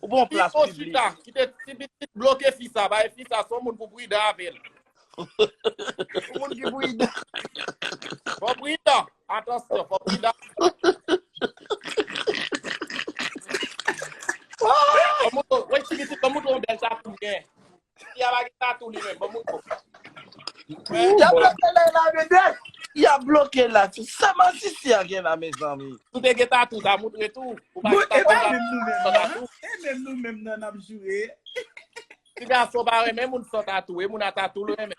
Ou bon plas piblik. Pipo chita, kite ti pitit bloke fi sa, bay fi sa son moun pou pridan avè l. Ou moun ki pridan. Fò pridan, atansyon, fò pridan. Wè ti pitit, kòm ou ton bèl sa pou mwen. Fi a pa gen tatou li menm, ban mwen kòb. Yap bloke ley la vedette. Yap bloke la tout. Sa masisi a gen la mezanmi. Sou te gen tatou ta moutre tou. Ou pa gen tatou ta moutre san tatou. E menm nou menm nan nap joure. Ti gason pa renmen moun san tatou e moun a tatou l renmen.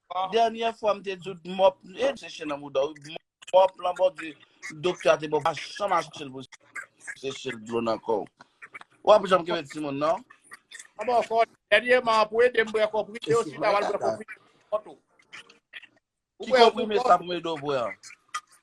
Dènyè fwa m te di w mòp e seche nan mouda w wi. Mòp lan bòdi doktè a te ba w pa janm achte l pou seche l dlo nan kò w. Ou pa pou janm kenbe timoun non. Mwen ba w kò dènyèman pou ede m bwè konprime yo si w ta pral bwè konprime pou kont ou. Ki konprime sa pou m ede w bwè an?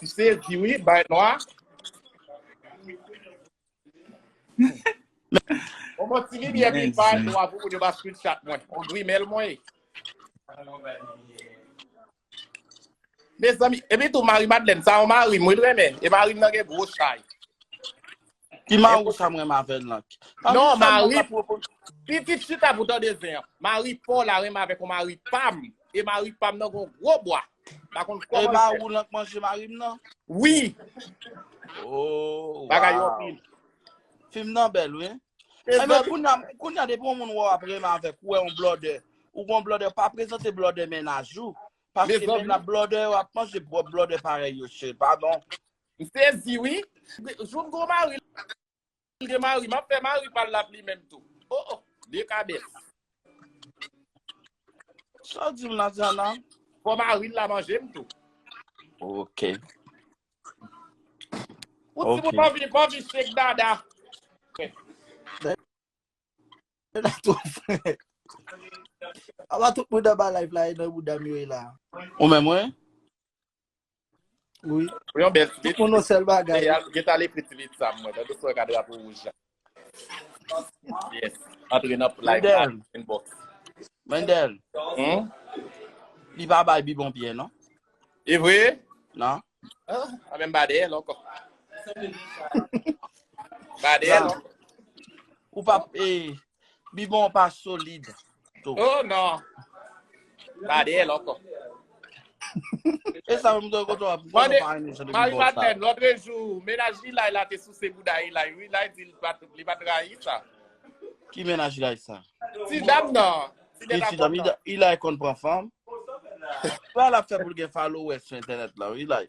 Misye di wi bay nwa. Bon mwen ti limye pi bay nwa pou moun yo ba screenshot mwen. On dwi mel mwen. Mes amis, epi tou mari Madeleine, sa on mari mwen remen. E mari nan gen gwo chay. Ki Maru sa m renmen avè l lan? Pa Non, Wilson mari, maka pwopo. pitit chita pou tande zen an. Mari paw la renmen avèk yon mari pam, e mari pam nan gon gwo bwa. Pa konn E kòman l fè. Maru lan k manje mari m nan? Wi, Oh, bagay yo waw. anpil. Fim nan bèl wi. E Emen zòt, kounya kounya depi yon moun wè w ap renmen avèk ou wè yon blòdè, ou gon blòdè pa prezante blòdè mennaj ou, paske dezòd wi. mennaj blòdè yo ap manje bwòp blòdè parèy yo cheri. Padon. M sezi wi. Joum gwo mari li gen mari map fè mari pal lap li menm tou oh oh de kabèt. Sa w di m la Diana? Fò mari l la manje m tou. Ok. Ou ti moun anvi anvi shake dada. Dada tou fre. Aba tout moun anba live la e nan bouda m yo e la. Ou menm wi? Wi. Pou yon bèl tweet. Pou nou sèl bagay. Gen ta le prit tweet sa mwen. Dèdou sou yon kadra pou wouj la. Yes. Antre nan play la. Inbox. Mendel. Hmm? Li pa bay bi bon piye, non? E vwe? Non. Ah, a men bade el anko. Bade el anko. Ou pa, e, Bibon pa solid tou. Oh non. Pa de el anko. E sa mwen mwen koto ap. Mwen pa ane jan de bibon sa. Mari Madeleine, lotre jou, menaj li lay la te souse bouda yi lay. Yi lay di li pat rayi sa. Ki menaj lay sa? Ti dam nan. Ti dam, yi lay kon pran fanm. Sa la fè pou l gen followers sou entenet la, yi lay.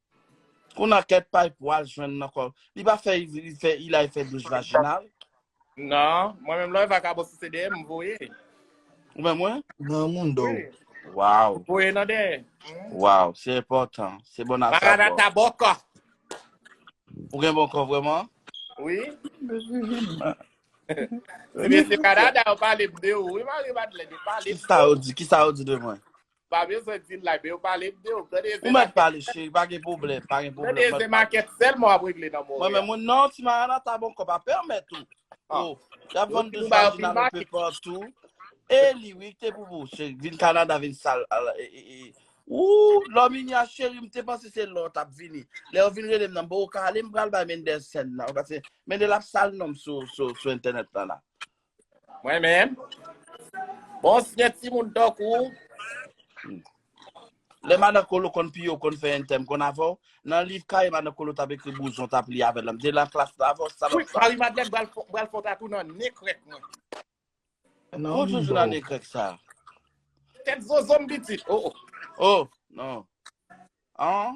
Konan kè pay pou al jwenn nan kò. Li pa fè li fè ila e fè douche vaginal. Nan, mwen menm lò e vakabon sou CDM m voye. Ou menm mwen? Nan moun do. Oui. Wow. Voye nan dè. Wow, se enpòtan. Se bon a sa. Marada ta bon kò. Ou gen bon kò vreman? Oui. Ti mesye Canada yo pale de ou. Oui, Marie Madeleine, yo pale. Ki sa yo di? Ki sa yo di de mwen? Pa bezwen di m like men yo pale m de ou. Gade Ou mèt pale cheri pa gen pwoblèm, pa gen pwoblèm. Gade Eze Makèt sèlman w ap regle nan Monreyal. Mwen menm mwen non ti Maranatha bon kò pa pèmèt ou. Ah. Oh, y ap vann dous vajina nan pe patou. E li wi te pou pou cheri vin Kanada vin sal. al- e- e- e. Ou, Lòminya cheri m te panse se lò w tap vini. Lè yo vin rele m nan bo kale m pral bay Mendel sèn nan. Ou pase Mendel ap sal non m sou sou sou entènèt lan la. Mwen menm, bon si gen ti moun tankou ou, lè madan kolo konn piye ou konn fè entèm konn avè w, nan liv kaye madan kolo t ap ekri bouzon t ap li avè l lan, m te nan klas la avè w salòp Kwit, sa. Mari Madlèn bral fon, bral fon tatou nan nen krèk mwen. Nan Ou toujou nan libo. nen krèk sa. Tèt zozo m pitit. Oh oh. Oh, non. An,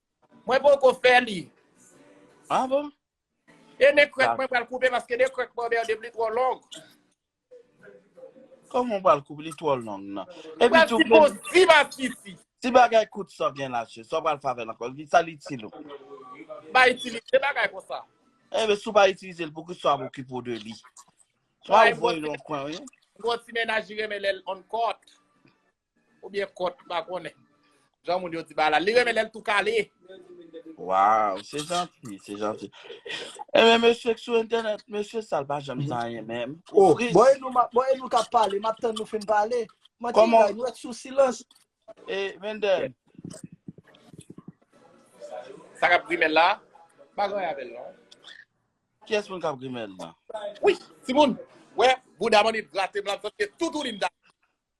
Mwen poko fè li. Ah bon? E ne krèk mwen pral koupe paske ne krèk mwen bè dev li twò long. Koman ou pral koupe li twò long nan? E pi tou mwen. Si ba si si. Si bagay kout sa gen la se sa pral fave lankò. Li sa li ti lou. Ba itilize bagay kon sa. E be sou ba itilize l pou ki sa pou ki pou de li. Sa ou voye loun kwen ou. Mwen ti menaj li remen lèl on kòt. Ou byen kòt m pa konnen. Jan moun yo di balal. Li renmen lèl tou kale. Waw se janti se janti. Enben mesye k sou entènèt mesye sal pa janm di anyen menm. Oh bon e nou map bon e nou kap pale map tann nou fin pale. Manti Koman- bagay nou ret sou silans. E Mendel. Sa kap grimel la. Pa gen anyen avèl non. Kiyès moun kap grimel nan? Wi timoun. Wè bouda manmi gratem la m santi toutouni m ta.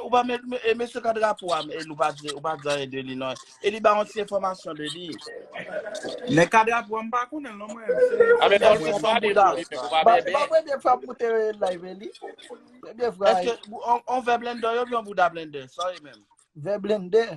Ou pa met, e mesye ka drapo am, e nou pa di, ou pa di anye de li nan. E li ba yon ti informasyon de li. Men ka drapo am pa konnen non mwen. A men pa mwen pa de li, ou pa bebe. Ba mwen de fwa pou te live li. Eske, on ve blender yo, yon bouda blender, sa yon menm. Ve blender.